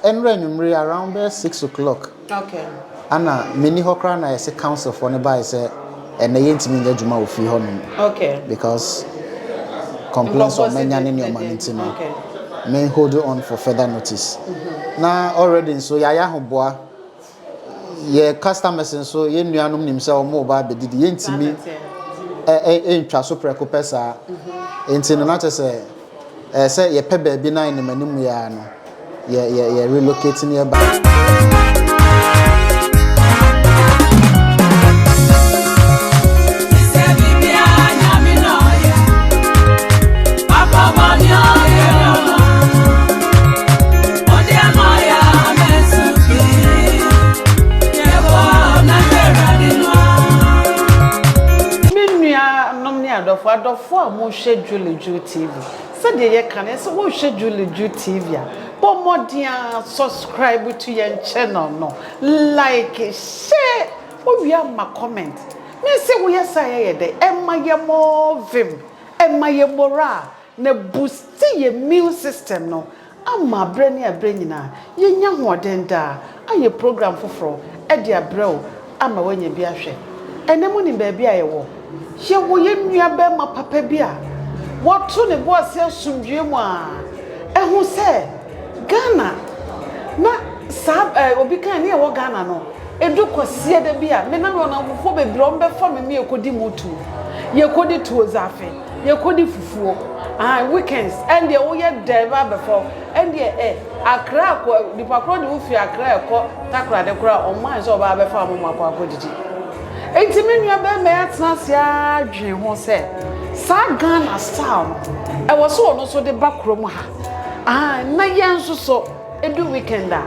Ɛnrɛ anwummere around bɛyɛ six o'clock ɛna menni hɔ koraa na yɛse council foɔ no baeɛ sɛ ɛnɛ yɛntumi nyɛ adwuma wɔ fie hɔ nom because complaints ɔma nya ne nneɛma no nti no men hold on for further notice na already nso yɛayɛ ahoboa Yɛn customers nso, yɛn nuanom nim sɛ wɔreba abɛdidi. Yɛntumi ntwa so prɛko pɛ saa. Enti no, na kyerɛ sɛ ɛɛ sɛ yɛpɛ baabi na anim anim yɛ ara no, yɛ yɛ yɛ relocate ne yɛba. adɔfo adɔfo a mohwɛ Julie Ju TV sɛdeɛ yɛka no sɛ wohwɛ Julie Ju TV a bɔ mmɔden a subscribe to yɛn channel no like share wowie ama comment me sɛ woyɛ sɛ yɛyɛ dɛ ɛma yɛ mɔɔ vim ɛma yɛ moral na boost yɛ immune system no Ama berɛ ne aberɛ nyinaa yɛnya hoɔden daa ayɛ program foforɔ de abrɛ wo ama woanya bi ahwɛ. Ɛnnɛ monim baabi a yɛwɔ? Yɛwɔ yɛn nuabarima papa bi a wato ne bo ase asomdwoeɛ mu a ɛho sɛ Ghana na saa eh, obi kan ne ɛwɔ Ghana no ɛdu kwasia da bi a me na me ɔnamfofoɔ bebree wɔn bɛfa me me yɛkɔdi mu tuo yɛkɔdi tuo zafe Yɛkɔdi fufuo ahaa weekends ɛndeɛ woyɛ dɛn ba abɛfa wo ɛndeɛ ɛ Accra akɔ nipa korɔ deɛ wofiri Accra ɛkɔ Takoradi koraa ɔmma nsɛ ɔbaa bɛfa mo moakɔ akɔ didi nti me nua bɛɛma yɛatena ase aa dwen ho sɛ saa Ghana style no ɛwɔ sɛ ɔno nso de ba kurom ha ahaa na yɛn nso so ɛdu weekend a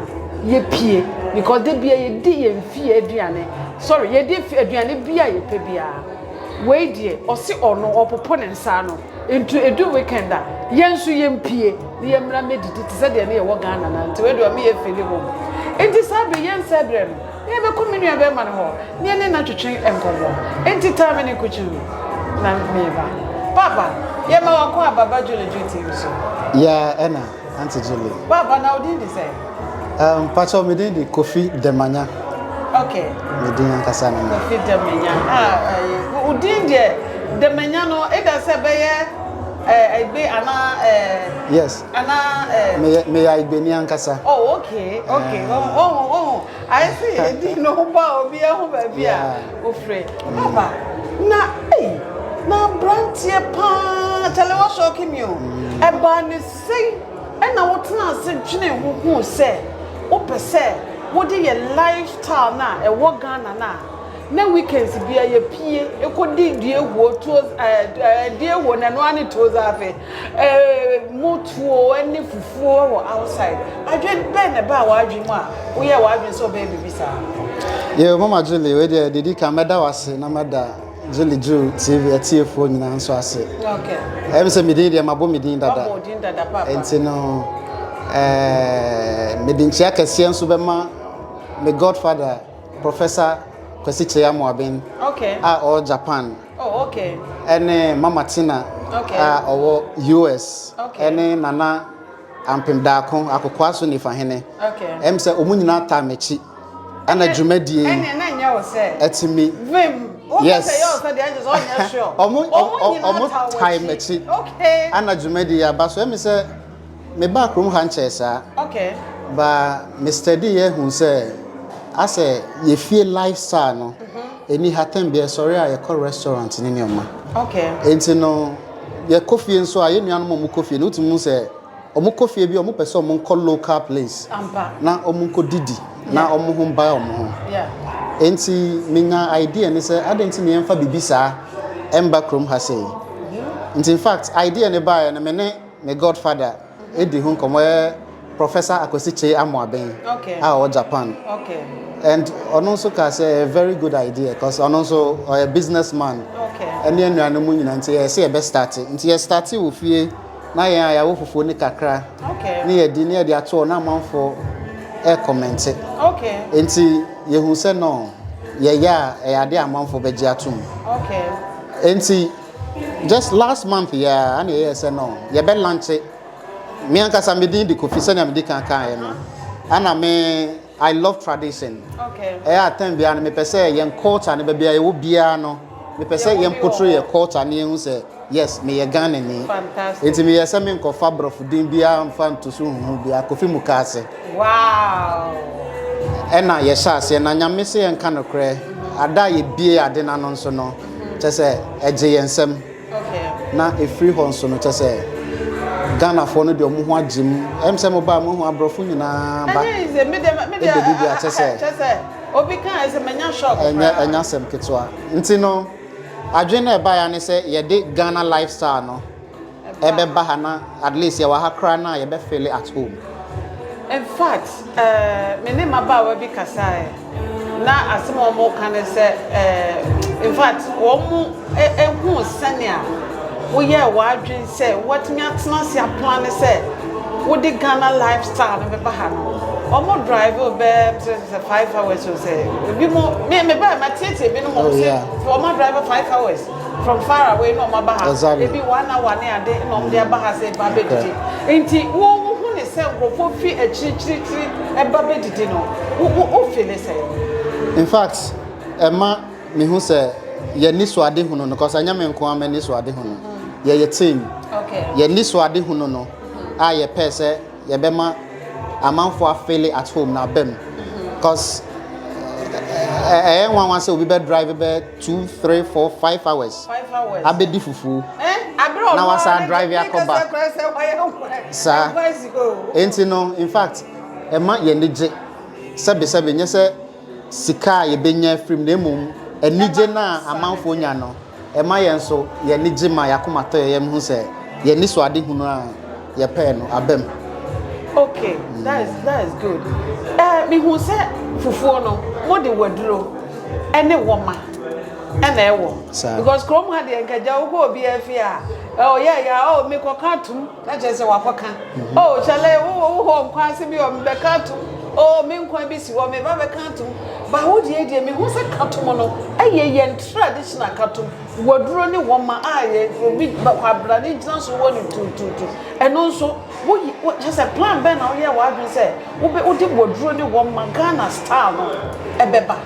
yɛpie because da biaa yɛdi yɛn fie aduane sorry yɛdi aduane biaa yɛpɛ biaa. Wei deɛ ɔse ɔno ɔpopo ne nsa ano nti ɛdu weekend a yɛn nso yɛmpie na yɛmmra mmɛdidi te sɛ deɛ ne yɛwɔ Ghana no a nti wei deɛ ɔme yɛ feeli home nti saa berɛ yi yɛnsɛe berɛ no na yɛbɛkɔ me nua bɛrima no hɔ na yɛne no atwetwe nkɔmmɔ nti taa me ne nkukyi no na meba. Papa, yɛma wakɔ aba ba Jolly Duty nso. Yeah, ɛna Aunty Julie. Papa na odin de sɛn? Um, Pacho, me din de Kofi Demanya. Okay. Me din ankasa no. Kofi Demanya. Ah, eh, odin de Demanya no, eda sɛ bɛyɛ eh Igbe ana eh Yes. Ana eh Me me ya Igbe ni ankasa. Oh, okay. Okay. Eh. Oh, oh, oh. I see. Edin no ba obi ahu ba bi a. Ofrɛ Baba na ei na abranteɛ paa kyale wa shock me o ɛbaa ne sɛn ɛna wo tena ase dwene ho hu sɛ wo pɛ sɛ wo de yɛ lifestyle na ɛwɔ Ghana na na weekends bia yɛ pie ɛkɔ di due huo tuo ɛɛ due huo na ɛno ara ne tuo zaafe Eeh motuo ne fufuo wɔ outside. Adwen bɛn na ɛbaa w'adwen mu a woyɛɛ w'adwen sɛ wobɛyɛ biribi saa? Yeo mama Julie wei deɛ didi kan mɛda wase na mɛda Julie Drew TV atiefoɔ nyinaa nso ase. Okay. Ɛyɛ mi sɛ mi din deɛ ma bɔ mi din dada. Wabɔ din dada papa. Nti no ɛɛ eh, mi di nkyia kɛseɛ nso bɛma mi godfather Professor Kwesi Kyeyamo Aben. Okay. A ɔwɔ Japan. Oh okay. Ne Mama Tina a ɔwɔ US ne Nana Ampem Daako Akokoa so Nifahene. Ɛm sɛ wɔn nyinaa taa m'akyi. Ɛna dwumadie yi. Ɛne na nyɛ wo sɛ. Ɛtumi. Vim. Yes. Wɔn nyinaa taa m'akyi. Ɛna dwumadie yi aba so ɛmi sɛ. Me baa krom ha nkyɛɛ saa. Okay. Ba me study yɛ hu sɛ asɛ yɛ fie lifestyle no ɛni ha tɛm bia ɛsɔre a yɛkɔ restaurant ne nneɛma. Okay. Enti no yɛkɔ fie nso a yɛ nuanom ɔmo kɔ fie no wotumi hu sɛ ɔmo kɔ fie bi ɔmo pɛ sɛ ɔmo nkɔ local place. Ampa. Na ɔmo nkɔ didi na ɔmo ho mbae ɔmo ho. Yeah. Enti me nya idea ne sɛ adɛn nti na yɛmfa bibi saa ɛmba krom ha sei. Nti in fact idea ne baeɛ no me ne. Me godfather di ho nkɔmmɔ yɛ Professor Akwasi Kyei Amoaben a ɔwɔ Japan and ɔno nso kaa sɛ ɛyɛ very good idea cause ɔno nso ɔyɛ business man ɛne anuanom mu nyinaa nti yɛyɛ sɛ yɛbɛ start nti yɛ start wɔ fie na yɛn a yɛawɔ fufuo ne kakra ne yɛdi ne yɛde atoɔ na amanfoɔ ɛrekɔmɛnte nti yɛhu sɛ no yɛyɛ a ɛyɛ adeɛ a amanfoɔ bɛgye atom nti Just last month yi ara na ɛyɛɛ sɛ no yɛbɛ lankye me ankasa me din de Kofi sɛnea medi kan kaeɛ no ana me I love tradition ɛyɛ a time biara no mepɛ sɛ yɛn culture no baabi a yɛwɔ biara no mepɛ sɛ yɛn potro yɛ culture no yɛhu sɛ yes meyɛ Ghanani nti meyɛ sɛ menkɔfa borɔfo din biara mfa nto so huhu biara Kofi Mukaase Ɛna yɛhyɛ aseɛ na nyame sɛ yɛnka nokorɛ ada a yɛbie ade no ano nso no kyɛ sɛ ɛgye yɛn nsɛm na ɛfiri hɔ nso no kyɛ sɛ ghanafoɔ no deɛ ɔmo ho agye mu ɛm sɛ mobaa mohu aborɔfo nyinaa ba ɛbɛdu bi a kyɛ sɛ ɛnya sɛm ketewa nti no adwene no ɛbaeɛ ne sɛ yɛde ghana lifestyle no ɛbɛba ha na at least yɛwɔ ha koraa no a yɛbɛ feel at home. In fact, eh, me ne mmabaawa bi kasaeɛ na asɛm a wɔka ne sɛ, eh, in fact, wɔn eh, eh, hu sɛnea woyɛɛ w'adwene sɛ woatumi atena ase aplan ne sɛ wode Ghana lifestyle no bɛba ha no. Wɔn drive o bɛɛ sɛ five hours o sɛ ebi mo me me bɛɛ ma tietie bi no mo oh, sɛ wɔn drive five hours. from far away na wɔn aba ha exactly. ebi one hour ne ade na wɔn de aba ha sɛ ba bɛdidi nti wo wo ho ne sɛ nkurɔfoɔ fi akyirikyirikyiri ɛba bɛdidi no wo wo wo fi ne sɛ. in fact ɛma mehu sɛ yɛni so ade hunu no kɔsa nyɛ me nko ama ni so ade hunu yɛyɛ team okay. yɛni so ade hunu no a yɛpɛ sɛ yɛbɛma amanfoɔ afele at home na abam mm-hmm. cause ɛyɛ nwanwa sɛ obi bɛ drive bɛ two three four five hours abɛdi fufuo na wasa drive akɔba saa nti no in fact ɛma yɛn ani gye sɛbisɛbi nyɛ sɛ sika a yɛbɛnya firim na mmom anigye no a amanfoɔ nya no ɛma yɛn nso yɛn ani gye ma yɛakoma tɔ yɛn yɛn ho sɛ yɛn ani so ade hunu a. yɛpɛɛ no aba mu. Okay, that is that is good. Eh, me hu sɛ fufuo no, mo de waduro ɛne wɔma ɛna ɛwɔ. Saa. Because kurom ha deɛ nkagya wokɔ obi afi a, oh yeah yeah, oh me kɔ ka tum, na kyerɛ sɛ wakɔ ka. Mm-hmm. Oh kyale, wo wo hɔ nkwa ase bi, oh me bɛ ka tum, oh me nkwa bi si hɔ, me ba bɛ ka tum. Ba wo deɛ deɛ me hu sɛ ka tum no, ɛyɛ yɛn traditional ka tum. Waduro ne wɔma a yɛ obi kwabra ne gyina so wɔ ne tuutuutu ɛno nso woyi wo kyɛ sɛ plan bɛn na woyɛ w'adwene sɛ wobe wode waduro ne wɔma Ghana style no ɛbɛba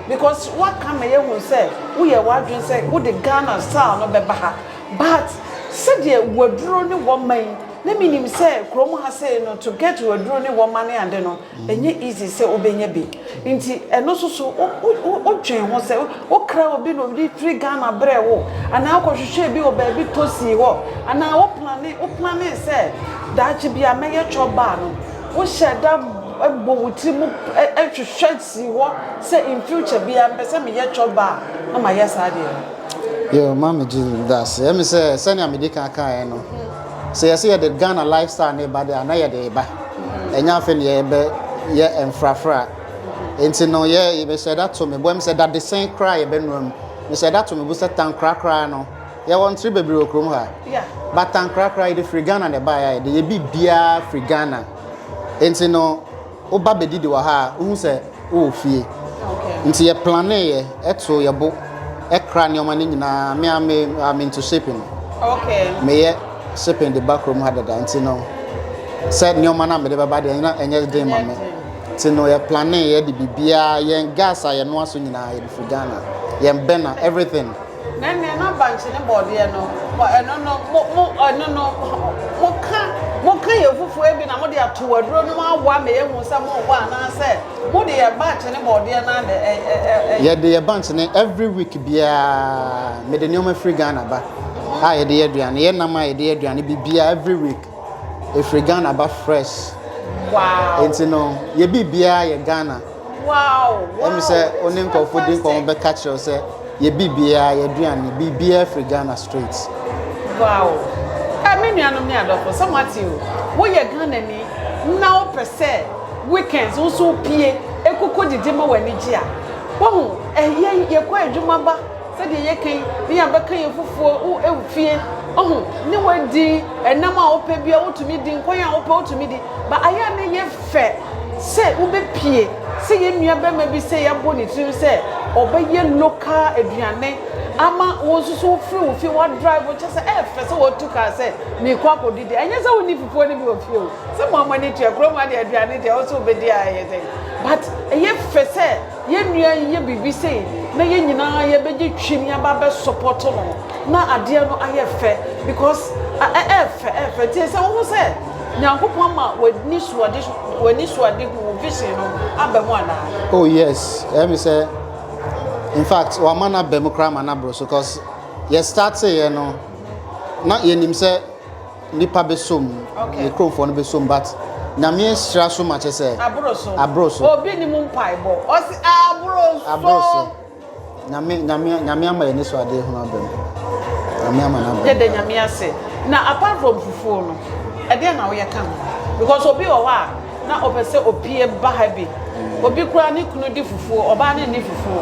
because waka ma yɛhu sɛ woyɛ w'adwene sɛ wode Ghana style no bɛba ha but sɛdeɛ waduro ne wɔma yi na menim sɛ kurom ha sei no to get waduro ne wɔma ne ade no Ɛnyɛ easy sɛ wobɛnya bi nti ɛno nso so wo dwen ho sɛ wo kra obi na ɔde firi Ghana brɛ wo anaa wo kɔ hwehwɛ bi wɔ baabi tɔ sii hɔ anaa wo plane wo plane sɛ daakye bi a mɛyɛ chop bar no wo hyɛ da bɔ wo tiri mu hwehwɛ sii hɔ sɛ in future bi a mpɛ sɛ meyɛ chop bar na mayɛ saa deɛ no. Yo, Mami Julie, medase. Ɛmi sɛ, sɛnea mede kan kaeɛ no, sɛ yɛsɛ yɛde ghana lifestyle ne ba de a na yɛde ba ɛnyɛ afei ne yɛbɛ yɛ mfrafra nti no yɛ yɛbɛhyɛ da to me boam sɛ dadesɛn koraa yɛbɛnua mu mehyɛ da to me bo sɛ tankora koraa no yɛwɔ ntere bebree wɔ kurom ha ba tankora koraa yɛde firi ghana na ɛbaeɛ a yɛde yɛ biribiara firi ghana nti no Woba bɛdidi wɔ ha a, wohu sɛ wowɔ fie. Nti yɛ planeeɛ, ɛtoo yɛ bo, ɛkra nneɛma no nyinaa. Me a me I'm into shipping. Okay. Meyɛ shipping de ba kurom ha dada nti no sɛ nneɛma no a mede bɛba deɛ na ɛnyɛ den ma me. Nti no yɛ planeeɛ de biribiara, yɛn gas a yɛnoa so nyinaa yɛde firi Ghana, yɛn bɛna, everything. Na nea na bankye ne bɔɔdeɛ no wɔ ɛno no, mo, mo, ɛno no, moka, moka yɛ fufuo bi na mode ato aduro no mu awɔ ama yɛahu sɛ mowɔ anaasɛ mode yɛ bankye ne bɔɔdeɛ no adɛ, ɛ, ɛ, ɛ, ɛ. Yɛde yɛ bankye ne, every week biara, mede nneɛma firi Ghana ba a yɛde yɛ aduane, yɛ nam a yɛde yɛ aduane, biribiara, every week, ɛfiri Ghana ba fresh. Wow. Enti no, yɛ biribiara yɛ Ghana. ɛm sɛ wo ne nkurɔfo di nkɔmmɔ bɛka kyerɛ wo sɛ yɛbi biara yɛaduane biribiara firi ghana straight wow ɛ me nuanom ne adɔfo sɛ moate o woyɛ ghanani na wopɛ sɛ weekends wo so pie ɛkokɔ didi ma w'ani gye a wohu ɛyɛ yɛkɔ adwuma ba sɛdeɛ yɛka yi ne yɛabɛka yɛ fufuo wo ɛmfie ɔho ne wadi ɛnam a wopɛ bia wotumi di nkwan a wopɛ wotumi di Ba a yɛ a na yɛ fɛ sɛ wo bɛ pie sɛ yɛ nua bɛma bi sɛ yɛ bɔ ne tirim sɛ ɔbɛ yɛ local aduane ama wo nso so wo firi wo fie wa drive wo kyɛ sɛ ɛyɛ fɛ sɛ wa tu car sɛ me kɔ akɔ didi ɛnyɛ sɛ wo ni fufuo no bi wɔ fie o sɛ mo amɔ ani tua kuro mu adeɛ aduane deɛ wo so wo bɛ di a ɛyɛ sɛ but ɛyɛ fɛ sɛ Yɛn nua yi yɛ biribi sei na yɛn nyinaa yɛ bɛgye twim yɛ ba bɛ support no na adeɛ no ayɛ fɛ because ɛɛfɛ ɛɛfɛ nti ɛsɛ wohu sɛ Nyankopɔn ama w'anisuade hu wo vision no aba mu anaa. Oh yes ɛmi sɛ infact wama no aba mu koraa ma no aboro so cause yɛ startee yɛ no na yɛnim sɛ. Nipa bɛ som ne kuromfoɔ no bɛ som but nyame sra so ma kyɛ sɛ aboro so obi ni mu mpae bɔ ɔsi aboro so aboro so nyame nyame nyame ama yɛ ne so adeɛ ho abɛm nyame ama na abɛm yɛde nyame ase na apart from fufuo no ɛdeɛ na woyɛ ka ho because obi wɔ hɔ a Na ɔpɛ sɛ opie ba ha bi. Obi koraa ne kunu di fufuo, ɔbaa no nni fufuo.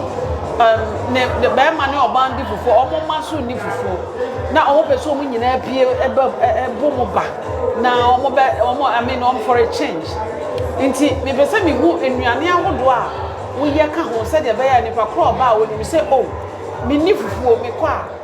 Ɛm, ne, ne barima ne ɔbaa no di fufuo, wɔn mma nso nni fufuo. Na wɔn pɛ sɛ wɔn nyinaa pie ɛbɛ ɛ, ɛbo mu ba. Na wɔn bɛ, wɔn, I mean, wɔn for a change. Nti, mepɛ sɛ mehu nnuane ahodoɔ a woyɛ ka ho sɛdeɛ ɛbɛyɛ a nipa korɔ a ɔba a, ɔnim sɛ, oh, menni fufuo, mekɔ a.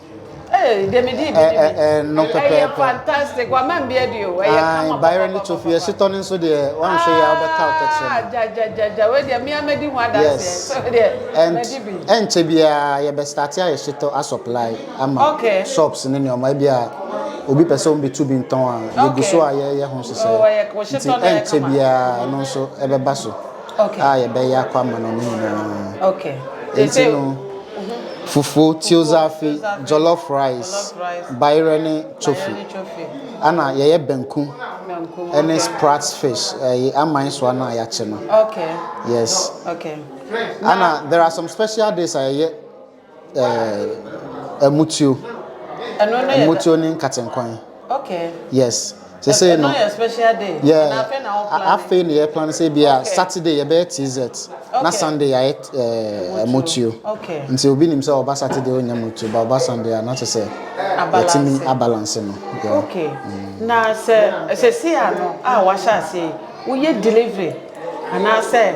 Hey, deɛ me di bi ni bi. Ɛno pɛpɛɛpɛ. Ɛyɛ fantastic. Wa ma mbia di o. Ɛyɛ kama papa. Bayern to fi ɛsi tɔ ne nso deɛ wɔn nso yɛ ɔbɛ ka ɔtɔ kyerɛ. Ah, ja ja ja ja. Wei deɛ mi ama di ho adansi. Yes. So deɛ ma di bi. Ɛnkyɛ biara yɛ bɛ start ayɛ shitɔ a supply ama. Okay. Shops ne nneɛma ebi a obi pɛ sɛ wɔn bɛ tu bi ntɔn a. Okay. Yɛ gu so a yɛ yɛ ho hyehyɛ. Oh, ɛyɛ ko shitɔ na ɛkama. Ɛnkyɛ biara ɛno nso ɛbɛba so. a yɛbɛyɛ akɔ ama no no nyinaa. Enti no, fufuo, tiozafe, jollof rice, bayerɛ ne chofi. Ana yɛyɛ banku ne sprat fish, ɛyɛ aman soa no a yɛakye no. Yes. Ana there are some special days a yɛyɛ Eh, ɛmutuo. Ɛno ne ɛmutuo ne nkatenkwan. Okay. Yes. Sɛ sɛ no. Ɛno yɛ special day. Yeah. Na afei na wɔn plan. Afei na yɛ plan sɛ bi a Saturday yɛ bɛyɛ TZ. Okay. Na Sunday yɛ ɛɛ ɛmutuo. Okay. Nti obi nim sɛ ɔba Saturday ɔnyɛ mutuo ba ɔba Sunday a na kyɛ sɛ. Abalance. Yɛtumi abalance no. Okay. Mm. Na sɛ sɛ si ano a wahyɛ ase woyɛ delivery anaasɛ.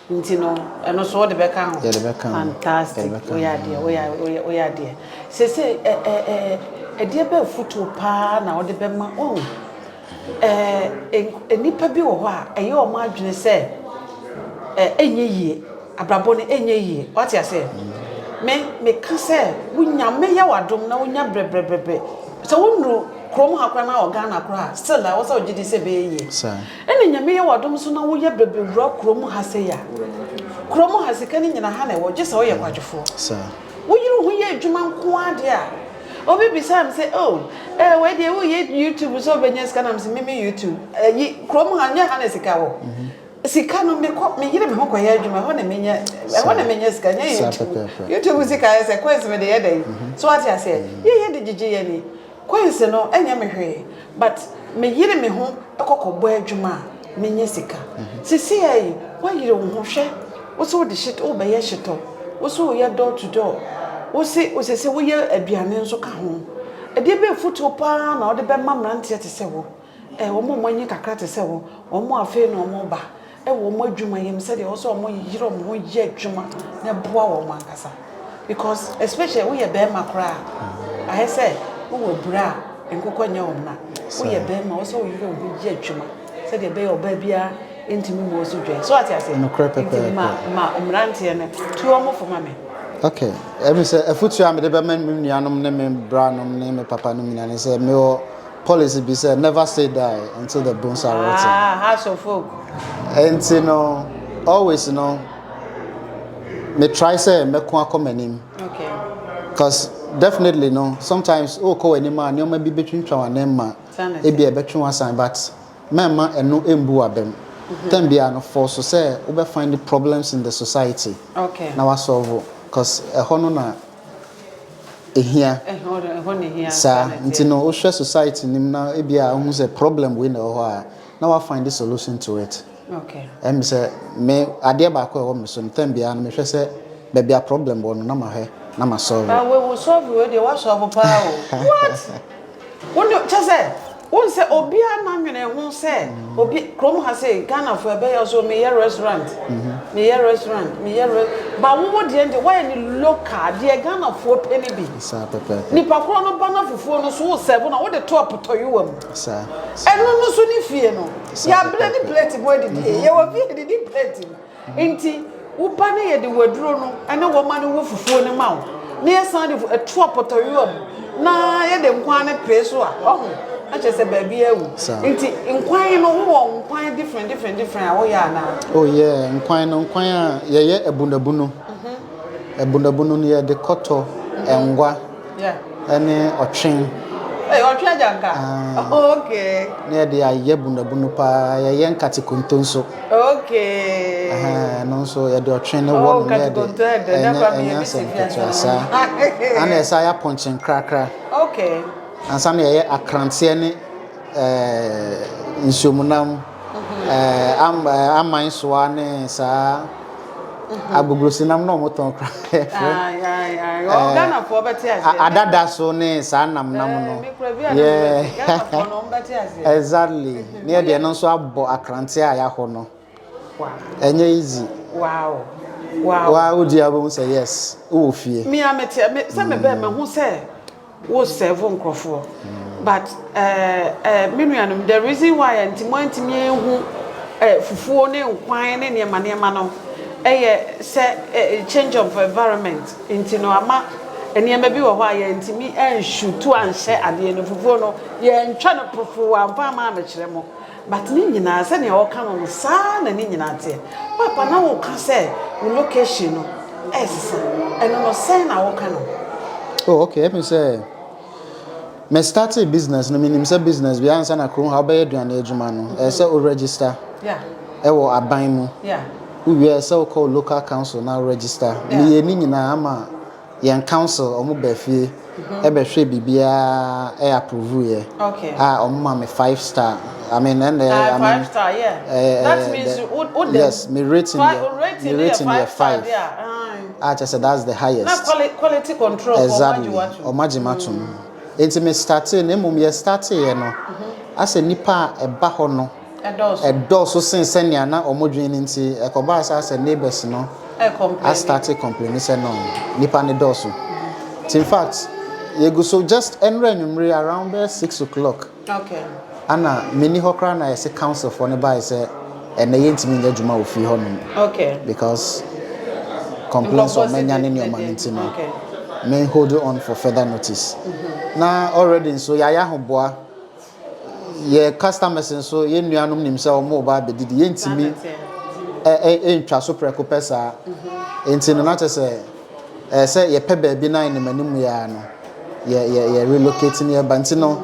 Nti no ɛno nso wode bɛka ho. Yɛde bɛka ho. Fantastic. Yɛde bɛka ho. Woyɛ adeɛ, woyɛ adeɛ, woyɛ, woyɛ adeɛ. Seesei ɛ ɛ ɛ ɛdeɛ bɛ afutuo paa na wode bɛma wɔn? Ɛ ɛ nnipa bi wɔ hɔ a ɛyɛ wɔn adwene sɛ ɛ ɛnyɛ yie, abrabɔ no ɛnyɛ yie. Wate aseɛ? Me meka sɛ wo Nyame yɛ wo adom na wonya brɛbrɛbrɛbrɛ. Sɛ wonuru kurom ha koraa na wɔ Ghana koraa a still ɛwɔ sɛ wogye di sɛ ɛbɛyɛ yie. Saa. Nna Nyame yɛ wo adom so na wo yɛ bɛbɛwura kurom ha sɛi a, kurom ha sika no nyina ha na ɛwɔ, gyesɛ wo yɛ kwadwofoɔ. Wo yere ho yɛ adwuma nko ara deɛ a, obi bisaa me sɛ oh eh wei deɛ wo yɛ YouTube sɛ ɔbɛnya sika na me se me me YouTube ayi kurom ha nyɛ ha na sika wɔ, sika no me kɔ me yere me ho kɔ yɛ adwuma ɛhɔ na me nya ɛhɔ na me nya sika nyɛ YouTube, YouTube sika ayɛ sɛ coins me de yɛ dɛn so wate aseɛ yɛ yɛ de gyegye yɛ ani. Quincy no ɛnyɛ me hwee but me yere me ho kɔ kɔ bɔ adwuma a me nya sika sesiaa yi wayere wo ho hwɛ wo se wo de hyit wo bɛ yɛ hyitɔ wo se wo yɛ door to door wo se wo sese wo yɛ aduane nso ka ho ɛdeɛ bɛ afutuo paa na wo de bɛ ma mmeranteɛ te sɛ wo. Wɔn a wɔn ani yɛ kakra te sɛ wɔn, wɔn a afei na wɔreba wɔ wɔn adwumayɛ mu sɛdeɛ ɛwɔ sɛ wɔyere wɔn ho yɛ adwuma na ɛboa wɔn ankasa because especially woyɛ barima koraa a, ayɛ sɛ wowɔ abura a nkokɔ nyɛ wɔn na. Woyɛ barima a, ɛwɔ sɛ woyere wo ho yɛ adwuma sɛdeɛ ɛbɛyɛ ɔbaa biara ntumi mmɔ wo so dwɛn. So ate aseɛ? Nokorɛ Nti pɛpɛɛpɛ. ma, ma mmeranteɛ no, tu wɔn fo ma me. Okay. Ɛmi sɛ afutuo a mede bɛma me nuanom ne me branom ne me papanom nyinaa ne sɛ mewɔ policy bi sɛ never say die until the bones are rotten. Ah, house of folk. Nti no, always no, me try sɛ mɛko akɔ m'anim. Okay. Cause definitely no, sometimes o kɔ w'anim a nneɛma bi betwintwa w'anim ma ebi a ɛbɛtwe w'asan but mɛmma ɛno mbu w'abam. Mm-hmm. Tɛm biara no fɔ so sɛ wobɛ find the problems in the society. Okay. Na wa solve cause ɛhɔ no na ɛhia saa nti no wohwɛ society no mu na ebi a wohu sɛ problem wei na ɛwɔ hɔ a na wa find the solution to it ɛmi sɛ me adeɛ baako a ɛwɔ me so no tɛm biara no mehwɛ sɛ baabi a problem wɔ no na mahwɛ na ma solve. Ah, we will solve you. They will solve power. What? Wo de kyɛ sɛ wohu sɛ obiara na nwene ho sɛ obi krom ha sɛ Ghana fo ɛbɛyɛ ɔsɛ me yɛ restaurant me yɛ restaurant me yɛ ba wo wo deɛ nti wayɛ ne local deɛ Ghana foɔ pɛ ne bi nipa korɔ no ba na fufuo no so wo sɛbo na wo de to apotɔyewa mu ɛno no so ne fie no yɛ abirɛ ne plate mu adidi yɛ wɔ fie didi plate mu. Enti wo ba no yɛde waduro no ne wɔma no wo fufuo no ma wo na yɛsan de fu ɛto apɔtɔyowa mu na yɛde nkwan no pere so a ɔho na kyerɛ sɛ baabi awu nti nkwan no wowɔ nkwan different different different a woyɛ anaa oh yeah nkwan no nkwan a yɛyɛ abunabunu mhm. abunabunu no yɛde kɔtɔ mhm. ngwa ne ɔtwe. Hey, ɔtwe agya nka. Ah. Oh, okay. Na yɛde ayɛ bunabunu paa, yɛyɛ nkate konto nso. Okay. Aha, no nso yɛde ɔtwe ne oh, wɔ no na yɛde ɛnyɛ nsɛm ketewa saa. Ana ɛsa yɛ apɔnkye nkrakra. Okay. Ansa na yɛyɛ akranteɛ ne ɛɛ eh, nsuomunam. aman soa ne saa agogosinam na wɔtɔn kora adada so ne saa nam nam no yɛ exactly ne yɛ deɛ no nso abɔ akrante a yɛahɔ no ɛnyɛ easy wa wodi a wobɛhu sɛ yes wowɔ fie me a mete sɛ mebɛɛ mahu sɛ Wo serve nkorɔfoɔ but eh eh me nuanom the reason why a nti moantumi anhu eh fufuo ne nkwan ne nneɛma nneɛma no ɛyɛ sɛ eh change of environment nti no ama nneɛma bi wɔ hɔ a yɛantumi ansutu anhyɛ adeɛ no fufuo no yɛantwa no profoo amfa amaa mekyerɛ mo But ne nyinaa sɛnea ɔka no no saa na ne nyinaa teɛ. Paapa na wo ka sɛ wo location no ɛsesa ɛno no sɛn na wo ka no. Oh okay ɛpin sɛ me startee business no menim sɛ business bi ansa na kurom ha wobɛyɛ aduane adwuma no ɛyɛ sɛ wo register ɛwɔ aban mu wo wie ɛyɛ sɛ wokɔ wo local council na wo register meyɛ ne nyinaa ama Yɛn council ɔmo baa fie ɛbɛ hwɛɛ biribiaa ɛ approve yɛ a ɔmo maa me five star I mean ɛna ɛ I mean ɛ yes me rating yɛ me rating yɛ five a kyerɛ sɛ that's the highest exactly ɔmo agye m'atom nti me startee no mmom yɛ startee yɛ no asɛ nnipa a ɛba hɔ no. dɔɔso sen sɛnea na wɔdwen no nti, ɛkɔbaa saa sɛ neighbors no astarte kɔmpleni sɛ no nnipa no dɔɔso. Nti in fact, yegu so just ɛnora anwummere around bɛyɛ six o'clock ana menni hɔ koraa na yɛse council foɔ no bae sɛ ɛnɛ yɛntumi nyɛ adwuma wɔ fie hɔnom because complaints a wɔanya ne nneɛma no nti no me hold on for further notice. Na already nso yɛayɛ ahoboa. Yɛn customers nso, yɛn nuanom nim sɛ wɔreba abɛdidi. Yɛntumi ntwa so prɛko pɛ saa. Enti no, na kyerɛ sɛ ɛsɛ sɛ yɛpɛ baabi na anim anim yɛ ara no, yɛ yɛ yɛ relocate ne yɛba. Nti no,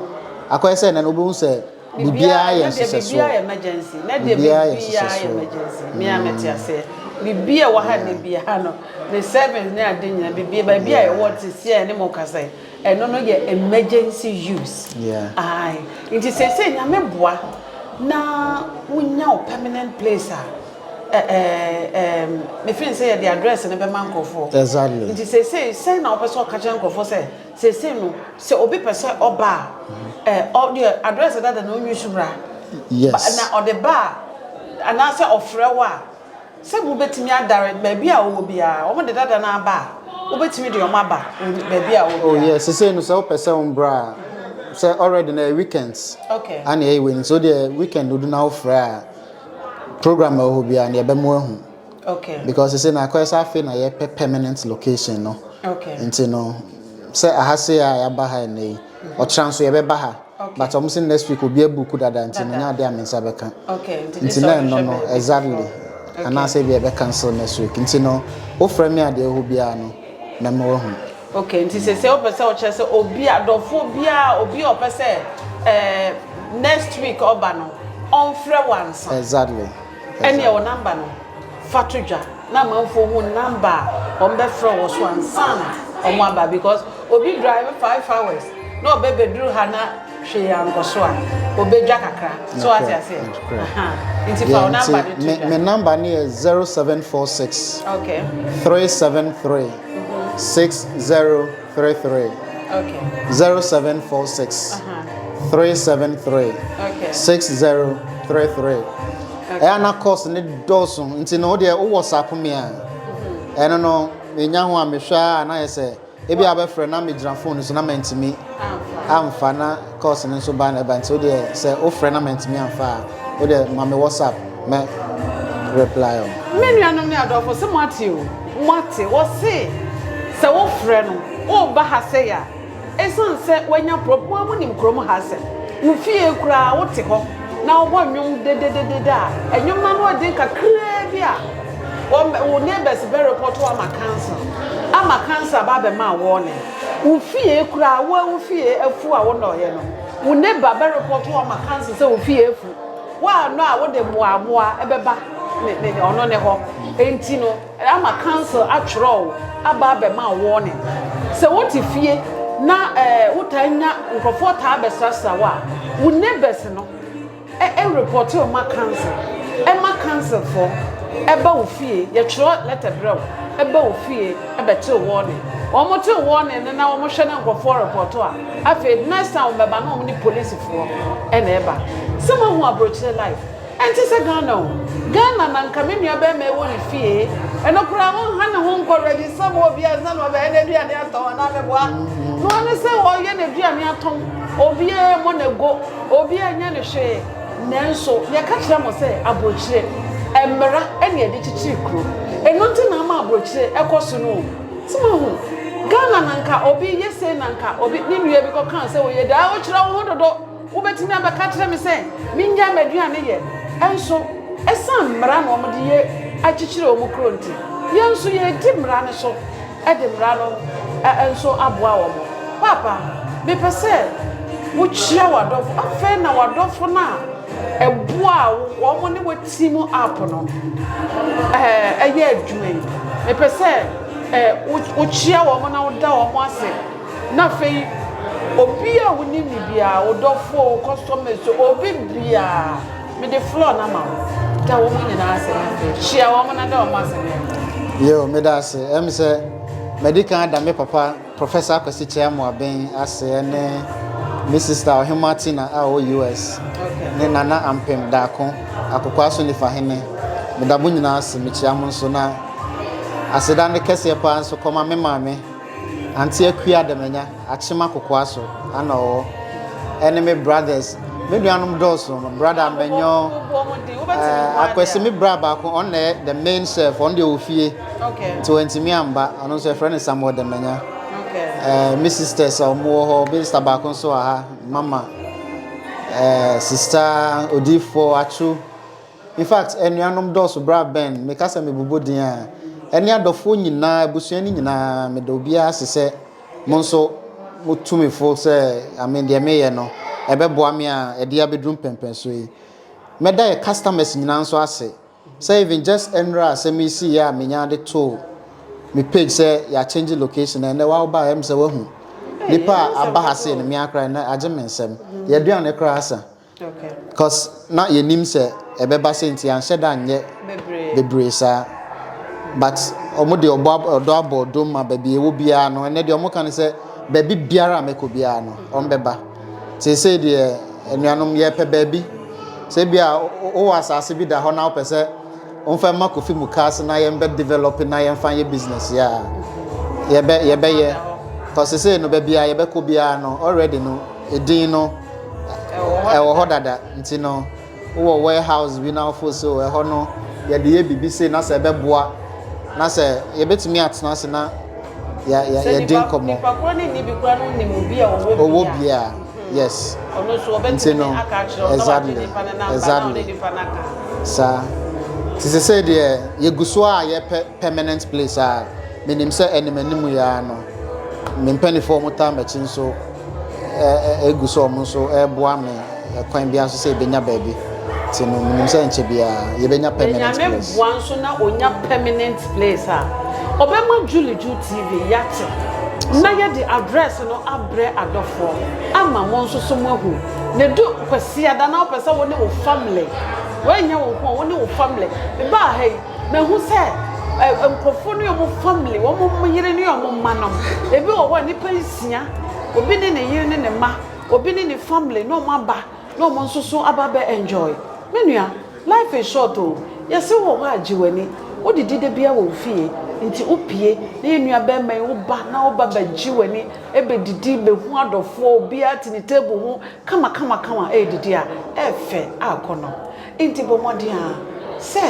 akɔyɛ sɛ ɛnɛ no, wobɛhu sɛ biribiara yɛ nhyehyɛsoɔ. Biribiara yɛ emergency. Nɛ deɛ biribiara yɛ emergency. Me ara mete aseɛ. Biribiara wɔ ha nɛ biara no, me servants ne ade nyinaa, biribiara, baabi a yɛwɔ te seɛ a yɛne mo rekasa yi, Ɛno no yɛ emergency use ae nti seesei Nyame boa na wonya wo permanent place a eh eh ehm me feeling sɛ yɛde address no bɛma nkorɔfoɔ Exactly. nti seesei sɛn na wopɛ sɛ ɔka kyerɛ nkorɔfoɔ sɛ seesei no sɛ obi pɛ sɛ ɔba a eh ɔ deɛ address dada no ɔnyi so mmra ba Yes. na ɔde ba a anaasɛ ɔfrɛ wo a Sɛ mubetumi adare baabi a ɔwɔ biara, wɔde dada no aba a, wobetumi de wɔn aba baabi a ɔwɔ biara. Oh yeah, sesei no sɛ wopɛ sɛ wombra a, sɛ already na ɛyɛ weekends. Okay. Ana ɛyɛ wei no, so deɛ weekend odu na wofrɛ a, program a ɛwɔ hɔ biara no yɛbɛma wahu. Okay. Because sesei na akɔyɛ sɛ afei na yɛpɛ permanent location no. Okay. Nti no, sɛ aha sei a yɛaba ha nnɛ yi, ɔkyena nso yɛbɛba ha. but ɔmo se next week obi abuku dada nti no nyɛ ade a me nsa bɛka nti na ɛno no exactly anaasɛ ebi ɛbɛ cancel next week nti no wofrɛ me adeɛ ɛhɔ biara no mɛma wahu. okay nti sɛ sɛ wopɛ sɛ ɔkyerɛ sɛ obi adɔfoɔ biara obi a ɔpɛ sɛ ɛɛ next week ɔba no ɔnfrɛ wansa. exactly. Ɛnneɛ wo namba no fa to dwa na amanfoɔ hu namba a wɔn bɛfrɛ wɔ so ansa na wɔn aba because obi drive five hours na ɔbɛ bɛduru ha na hwee ankɔ so a ɔbɛdwa kakra so wate aseɛ nti fa wo namba no to dwa. Me namba no yɛ zero seven four six okay three seven three six zero. three three zero seven four six three seven three six zero three three ɛyɛ na course ne dɔɔso nti no wodeɛ wowɔ sapome a mm-hmm. ɛno no menya ho a mehwɛ a na yɛ sɛ ebi abɛfrɛ na megyina phone so na mantumi amfa na Calls no nso ba na ɛba nti wodeɛ sɛ wo frɛ na mantumi amfa a wodeɛ ma me WhatsApp mɛ reply wo. Me nuanom ne adɔfo se moate o moate wɔse sɛ wo frɛ no woba ha sɛi a ɛsiane sɛ wanya prob mo ara monim kurom ha asɛm wo fie koraa wote hɔ na wobɔ nnwom dedededede a ɛnwom no ano ɛden kakraa bi a wɔn wo neighbors bɛ report wo ama council ama council aba abɛma warning. Wo fie koraa wo wo fie afu a wonɔɔeɛ no wo neighbor bɛ report wo ama council sɛ wo fie afu woannɔ a wode mmoamoa bɛba ne ne ne ɔno ne hɔ enti no ama council atwerɛ wo aba abɛma wo warning sɛ wote fie na ɛɛ wotaa nya nkurɔfoɔ taa bɛsrasra wo a wo neighbors no E report wo ma council, e ma council foɔ e ba wo fie, yɛ twerɛ letter brɛ wo e ba wo fie e bɛ te wo warning, wɔn te wo warning no na wɔn hwɛ na nkorɔfoɔ report a, afei next time wɔn bɛ ba na wɔn ne police foɔ na ɛba. Sɛ mo ahu abrokyire life, ɛnte sɛ Ghana o, Ghana na nka me nua bɛɛma ɛwɔ ne fie, ɛno koraa wɔn ha ne ho nkɔ register ma obi ansa na wɔbɛyɛ no aduane atɔn anaa mɛboa noa ne sɛ wɔyɛ no aduane atɔn obiara mɔ no ago. Obi anyɛ no hwee. Nanso yɛka kyerɛ mo sɛ aburokyire mmara na yɛde kyekyere kuro. Ɛno nti na ama aburokyire kɔ so no o. So moahu? Ghana na anka obi yɛ sei na anka obi, ne nua bi kɔkaa sɛ ɔyɛ dɛn. Wokyerɛ wo ho dodo. Wobɛtumi abɛka akyerɛ me sɛ mennyae m'aduane yɛ. Nso ɛsiane mmara na wɔde yɛ akyekyere wɔn kuro nti, yɛn nso yɛredi mmara no so. de mmara no nso aboa wɔn. Paapa, mepɛ sɛ wokyia w'adɔfo. Afei na w'adɔfo no a ɛboaa wo, wɔn ne wo team up no ɛɛ ɛyɛ adwuma yi. Mepɛ sɛ ɛɛ wokyia wɔn na woda wɔn ase. Na afei obi a wonim ne biara, wo dɔfo, wo customers, obi biara. Mede floor no ama wo. Ka wɔn nyinaa asɛm afei. Hyia wɔn na da wɔn asɛm yɛ ho. Yoo, meda ase. Ɛm sɛ madi kan ada me papa Professor Akwasi Kyei Amoaben ase ne me sista Ɔhemmoa Tina a ɔwɔ US ne Nana Ampem Daako, Akokoaa so Nifahene. Meda mo nyinaa ase. Mekyia mo nso na aseda no kɛseɛ paa nso kɔma me maame Aunty Akua Damanya, Akyem Akokoa so na ɔwɔ, ɛne me brothers. Me nuanom dɔɔso, me brother Manyɔ, eh, Akwasi, me bra baako, ɔno na ɛyɛ the main chef, ɔno deɛ ɔwɔ fie, nti wantumi amba, ɔno nso yɛfrɛ no Samuel Damanya. Eh, me sisters a wɔn wɔ hɔ, me sister baako nso wɔ ha, Mama, eh, sister Odiifoɔ Atwo, In fact, anuanom dɔɔso bere a Ben meka sɛ mebobɔ din a, ɛne adɔfoɔ nyinaa, abusua no nyinaa, meda obiara ase sɛ mo nso motu me fo sɛ ame deɛ meyɛ no ɛbɛboa me a ɛde abɛduru mpɛnpɛnsoɔ yi. Mɛda yɛ customers nyinaa nso ase sɛ even just ɛnora a asɛm yi siiɛ a menyaa de too me page sɛ yɛakyɛngye location na ɛnɛ wawoba a ɛm sɛ wahu nnipa a aba ha sei no me ara koraa ɛnɛ agye me nsam. Yɛaduane koraa asa. Cause na yɛnim sɛ ɛbɛba sɛ nti anhyɛ da nyɛ bebree saa but ɔmo de ɔbɔ ɔdɔ abɔ ɔdom ma baabi ɛwɔ biara no ɛnɛ deɛ ɔmo ka no sɛ baabi biara a mɛkɔ biara no ɔmo bɛba seesei deɛ anuanom yɛpɛ baabi sɛ bi a wowɔ asaase bi da hɔ na wopɛ sɛ Wonfa mma kofi mukaase na yɛn bɛ develop na yɛnfa nyɛ business yɛ a yɛbɛ yɛbɛyɛ cause sesei no baabi a yɛbɛkɔ biara no already no edin no ɛwɔ hɔ dada nti no wowɔ warehouse bi na wofo so ɛhɔ no yɛde yɛ biribi sei na sɛ ɛbɛboa na sɛ yɛbɛtumi atena ase na yɛde nkɔmmɔ ɔwɔ bi a Yes. Ɔno nso ɔbɛtumi no aka akyerɛ ɔno na wagye nipa no namba na ɔne nipa no aka. Saa. Nti sɛ sɛ deɛ yɛgu so a yɛpɛ permanent place a menim sɛ anim anim yɛa no me mpanifoɔ mo taa m'akyi nso ɛgu so ɔmo nso ɛboa me kwan biara nso sɛ yɛbɛnya baabi nti no menim sɛ nkyɛ biara yɛbɛnya permanent place. Ɛnyame boa nso na ɔnya permanent place a ɔbɛma Julie Ju TV yɛate na yɛde address no aba Frɛ adɔfoɔ ama mo nso so mo ahu ne do kwasiada na wopɛ sɛ wo ne wo family wei nyɛ wo nko a wo ne wo family me baa ha yi mahu sɛ eh, nkurɔfoɔ ne wɔn family wɔn yere ne wɔn mma nom ebi wɔ hɔ a nipa nsia obi ne ne yere ne ne mma obi ne ne family na wɔn aba na wɔn nso so aba bɛ enjoy me nua Life is short o, yɛse wɔ hɔ a gye w'ani Wo didi da biaa wɔ wo fie nti wo pie Na yɛ nua bɛɛma yi wo ba na wo ba bɛ gye w'ani Bɛ didi bɛ hu adɔfoɔ obiaa te ne table ho kama kama kama Ɛɛdidi a ɛɛfɛ aakɔ no nti bɔ mmɔden aa sɛ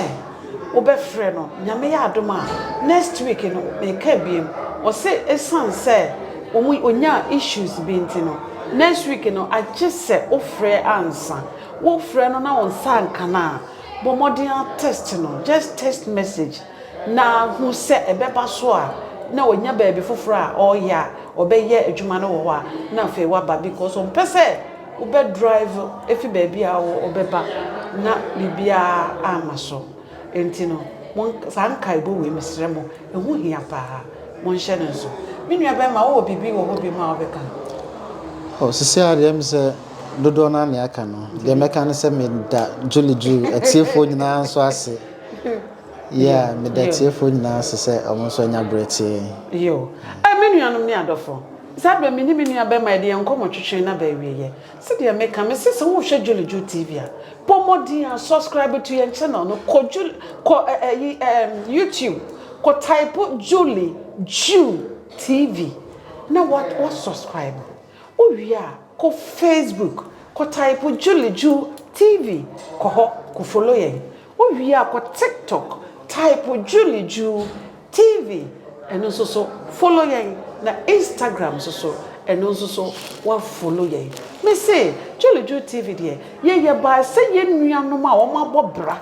wo bɛ frɛ no Nyame yɛ adom a next week no meeka abiem wɔ se ɛsiane sɛ wɔn nyaa issues bi nti no next week no agye sɛ wo frɛ ansa Wo frɛ no na wo nsa anka no a, bɔ mmɔden ara test no, just text message na hu sɛ ɛbɛba so a na wanya baabi foforɔ a ɔreyɛ a ɔbɛyɛ adwuma no wɔ hɔ a na afei waba because ɔmpɛ sɛ wo bɛ drive ɛfiri baabi a ɔwɔ ɔbɛba na biribiara amma so nti no mo saa nkaebɔ wei mesrɛ mo ɛho hia paa mo nhyɛ no nso. Me nua bɛrima wowɔ biribi wɔ hɔ bio mu a wobɛka? Ɔsisi adeɛ me sɛ. Dodoɔ no ara nea aka no, deɛ mɛka ne sɛ meda Julie Drew atiefoɔ nyinaa nso ase. Yeah, meda atiefoɔ nyinaa ase sɛ wɔn nso anya berɛ tie yɛn. Yo. Eh, me nuanom ne adɔfo, saa berɛ me ne me nua barima yɛde yɛn nkɔmmɔ twetwee no aba awieɛ. Sɛdeɛ meka, mese sɛ wohwɛ Julie Drew TV a, bɔ mmɔden ara subscribe to yɛn channel no, kɔ Julie, kɔ eh, eh, yi, eh, YouTube, kɔ type Julie Drew TV na wa, wa subscribe. Wowie a, kɔ Facebook kɔ type Juliju TV kɔ hɔ kɔ follow yɛn. Wowie a kɔ TikTok type Juliju TV ɛno nso so follow yɛn na Instagram nso so ɛno nso so wa follow yɛn. Mese Juliju TV deɛ yɛyɛ bae sɛ yɛn nuanom a wɔabɔ bra.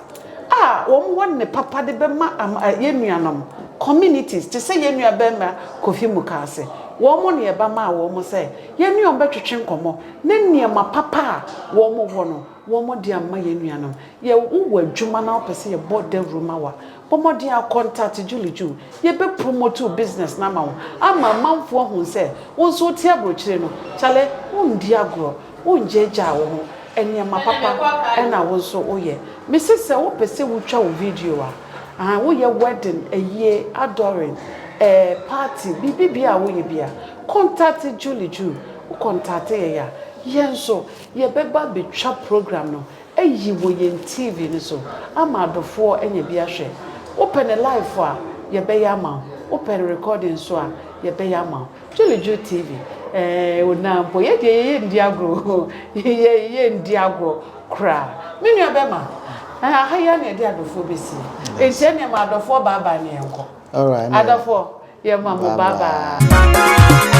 a wɔwɔ nne papa de bɛma ama yɛn nuanom, communities, te sɛ yɛn nua barima Kofi Mukaase, wɔn na yɛba maa wɔn sɛ yɛne wɔn bɛtwetwe nkɔmmɔ ne nneɛma papa a wɔwɔ no wɔde ama yɛn nuanom. Yɛ wo wɔ adwuma na wopɛ sɛ yɛbɔ dawuru ma wo a, bɔ mmɔden ara contact Julie Ju, yɛbɛ promote wo business no ama wo ama amanfoɔ ahunu sɛ wo nso wote aburokyire no, kyale, wondi agorɔ. Wongyaagyaa wo ho, nneɛma papa na wo nso woyɛ. Mese sɛ wopɛ sɛ wotwa wo video a, ahaa, woyɛ wedding, ayie, adoring, eh, party, biribi biara a woyɛ biara, contact Julie Ju. Wo contact yɛn a, yɛn nso yɛbɛba abɛtwa program no ayi wɔ yɛn TV no so ama adɔfoɔ anya bi ahwɛ. Wopɛ no live a, yɛbɛyɛ ama wo. Wopɛ no recording nso a, yɛbɛyɛ ama wo. Dwolodwo TV, Ɛɛh o na mpo yɛ deɛ yɛyɛ nndi agorɔ o, yɛ yɛ nndi agorɔ koraa. Me nua bɛma, ɛɛh aha yi ara na yɛde adɔfoɔ bɛsi, enti ɛneɛ ma adɔfoɔ bye bye na yɛnkɔ. Adɔfoɔ, yɛma mo bye bye.